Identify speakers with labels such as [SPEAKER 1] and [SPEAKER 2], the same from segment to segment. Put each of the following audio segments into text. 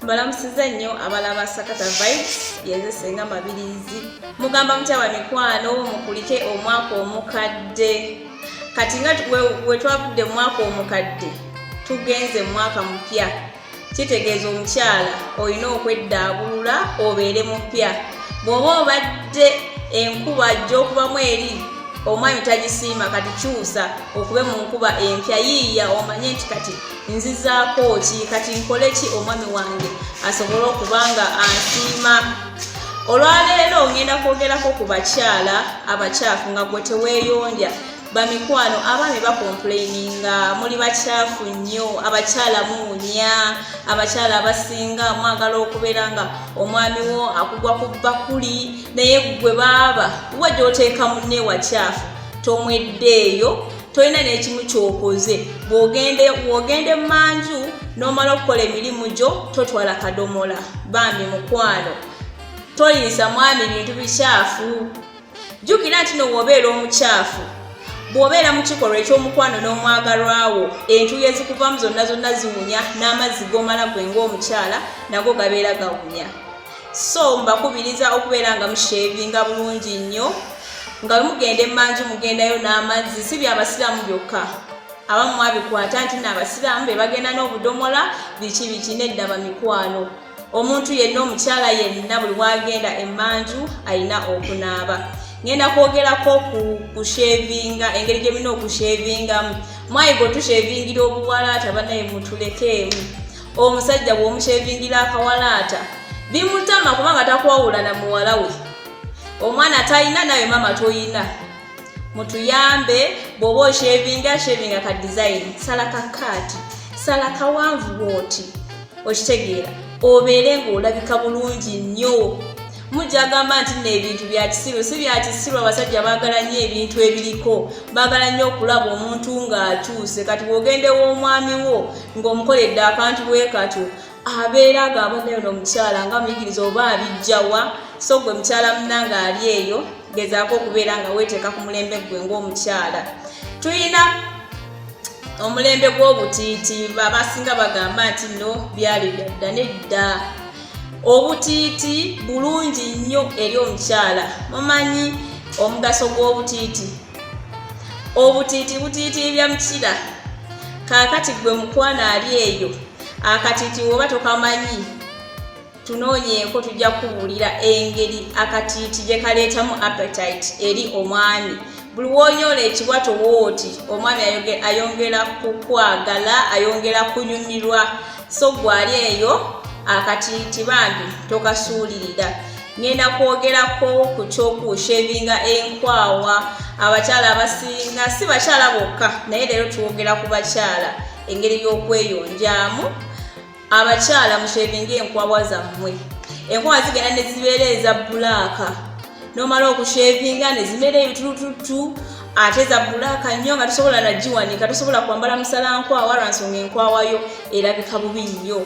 [SPEAKER 1] mbalamusiza nnyo abala ba sakata vibes yenze senga mabirizi mugamba mutya wa mikwano mukulike omwaka omukadde kati nga wetwavudde omwaka omukadde tugenze mwaka mupya kitegeeza omukyala olina okweddaabulula obeere mupya bw'oba obadde enkuba ajja okubamu eri omwami tagisiima kati kyusa okube mu nkuba empya yiiya omanye nti kati nzizaako ki kati nkole ki omwami wange asobole okuba nga ansiima olwaleero ngenda kwogerako ku bakyala abakyafu nga gwe teweeyondya bamikwano abaami bakompuleininga muli bakyafu nnyo abakyala muunya abakyala abasinga mwagala okubeera nga omwami wo akugwa ku bakuli naye gwe baaba wa gyoteeka munne wakyafu tomweddeeyo tolina n'ekimu kyokoze bwogende wogende manju n'omala okukola emirimu gyo totwala kadomola bambi mukwano toyinza mwami bintu bikyafu jjukira nti nowoobeera omukyafu bw'obeera mu kikolwa eky'omukwano n'omwagalwawo entuuyo ezikuvamu zonna zonna ziwunya n'amazzi g'omala gwe ng'omukyala nago gabeera gawunya so mbakubiriza okubeera nga mushevinga bulungi nnyo nga bwemugenda emanju mugendayo n'amazzi si byabasiraamu byokka abamu mwabikwata nti naabasiraamu be bagenda n'obudomola biki biki nedda bamikwano omuntu yenna omukyala yenna buli bwagenda emanju alina okunaaba ngenda kwogerako kushevinga engeri gyemulina okushevingamu mwayiga otushevingira obuwalaata banaye mutulekeemu omusajja bw'omushevingira akawalaata bimutama kubanga takwawula na muwala we omwana talina nawe maama toyina mutuyambe bw'oba oshevinga shevinga ka dizayini sala ka kaati sala kawanvu bwoti okitegeera obeere ng'olabika bulungi nnyo mujja gamba nti nno ebintu bya kisiru si bya kisiru abasajja baagala nnyo ebintu ebiriko baagala nnyo okulaba omuntu ng'akyuse kati bw'ogenda ew'omwami wo ng'omukoledde akantu bwe katyo abeera ag'abaddeyo n'omukyala nga muyigiriza oba abijjawa so gwe mukyala munanga ali eyo gezaako okubeera nga weeteeka ku mulembe ggwe ng'omukyala tulina omulembe gw'obutiiti abasinga bagamba nti nno byali byadda nedda obutiiti bulungi nnyo eri omukyala mumanyi omugaso gw'obutiiti obutiiti butiitiibya mukira kaakati gwe mukwana ali eyo akatiiti woba tokamanyi tunoonyeeko tujja kubuulira engeri akatiiti gye kaleetamu appetite eri omwami buli wonyoola ekibwa towooti omwami ayongera kukwagala ayongera kunyumirwa so gwali eyo akatiiti bambi tokasuulirira ngenda kwogerako ku kyokuusha ebinga enkwawa abakyala abasinga si bakyala bokka naye leero twogera ku bakyala engeri y'okweyonjaamu abakyala mushevinga enkwawa zammwe enkwawa zigenda ne zibeera eza bulaaka nomala okushevinga nezimera ebitulututu ate zabbulaaka nnyo nga tosobola nagiwanika tosobola kwambala musala nkwawa lwansonga enkwawayo erabika bubi nnyo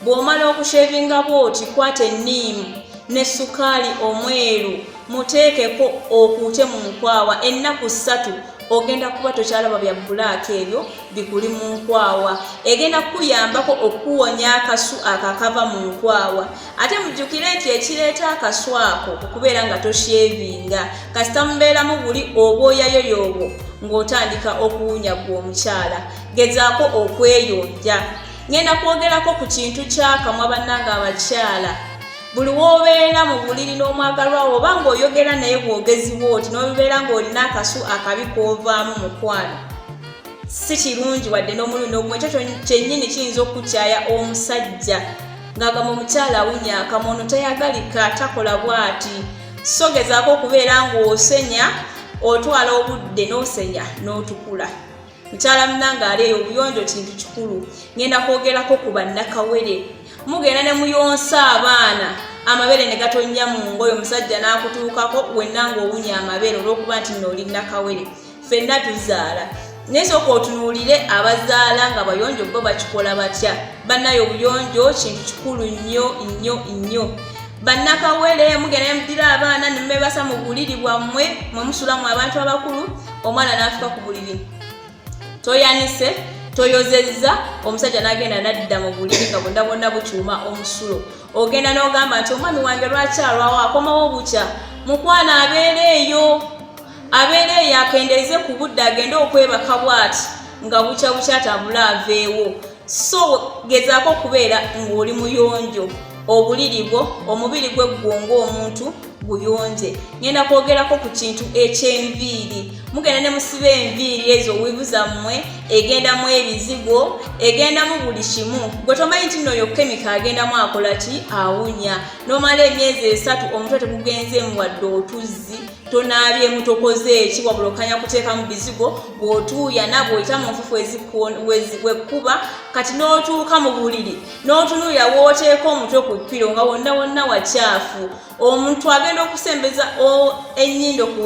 [SPEAKER 1] bw'omala okushevinga bwoti kwata enniimu ne sukaali omweru muteekeko okuute mu nkwawa ennaku ssatu ogenda kuba tokyalaba bya bulaaka ebyo bikuli mu nkwawa egenda kukuyambako okuwonya akasu akakava mu nkwawa ate mujjukire nti ekireeta akaswa ako okubeera nga toshevinga kasita mubeeramu buli obwoyayo yoobo ng'otandika okuwunya gwe omukyala gezaako okweyonja ngenda kwogerako ku kintu kyakamwa bannanga abakyala buli w'obeera mu buliri n'omwagalwawo oba ng'oyogera naye bwogezi bwoti n'obibeera ng'olina akasu akabi k'ovaamu mukwano si kirungi wadde n'omulundi ogumwe ekyo kyennyini kiyinza okukukyaya omusajja ng'agamba omukyala awunya akamwa ono tayagalika takola bwati so gezaako okubeera ng'osenya otwala obudde n'osenya n'otukula mukyala munange aleeyo obuyonjo kintu kikulu ngenda kwogerako ku bannakawere mugenda ne muyonsa abaana amabere ne gatonnya mu ngoyo omusajja n'akutuukako wenna ng'owunya amabere olw'okuba nti nooli nakawere fenna tuzaala naye soka otunuulire abazaala nga bayonjo bo bakikola batya bannayo obuyonjo kintu kikulu nnyo nnyo nnyo bannakawere mugenda nemudira abaana nemebasa mu buliri bwammwe mwemusulamu abantu abakulu omwana naafika ku buliri toyanise toyozezza omusajja nagenda nadda mu buliri nga bonna bonna bukyuma omusulo ogenda n'ogamba nti omwami wange lwaki alwawo akomawo bukya mukwana abeera eyo abeera eyo akendeeze ku budde agende okwebaka bwati nga bukya bukya atabule aveewo so gezaako okubeera ng'oli muyonjo obuliri bwo omubiri gwe ggwonga omuntu guyonje ngenda kwogerako ku kintu ekyenviiri mugenda ne musiba enviiri ezo wivu zammwe egendamu ebizigo egendamu buli kimu gwe tomanyi nti nooyo kemika agendamu akola ki awunya nomala emyezi esatu omutwe tegugenzeemu wadde otuzzi tonaabyemu tokoze eki wabula okanya kuteekamu bizigo bw'otuuyana bw'oyita mu nfufu ezikuwekkuba kati n'otuuka mu buliri n'otunuulira w'oteeka omutwe ku ppiro nga wonna wonna wakyafu omuntu agenda okusembeza ennyindo ku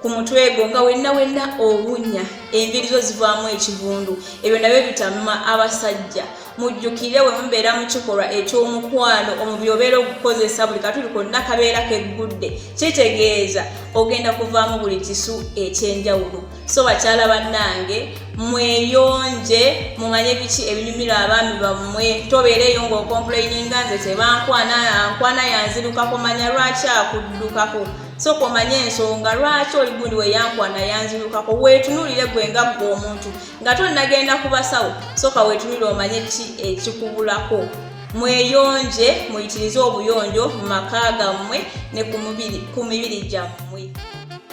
[SPEAKER 1] ku mutwe gwo nga wenna wenna owunya enviri zo zivaamu ekivundu ebyo nabyo bitamma abasajja mujjukire we mubeera mu kikolwa eky'omukwano omubi obeera okukozesa buli katuli konna kabeera keggudde kitegeeza ogenda kuvaamu buli kisu ekyenjawulo so bakyala bannange mweyonje mumanye biki ebinyumira abaami bammwe tobeera eyo ngaokompuleininga nze tebankwana ankwana yanzirukako manya lwaki akuddukako so komanye ensonga lwaki oligundi weyankwana yanzirukako weetunuulire gwe nga ggwe omuntu nga tonnagenda ku basawo sooka weetunire omanye ki ekikubulako mweyonje muyitirize obuyonjo mu maka gammwe ne ku mibiri gyammwe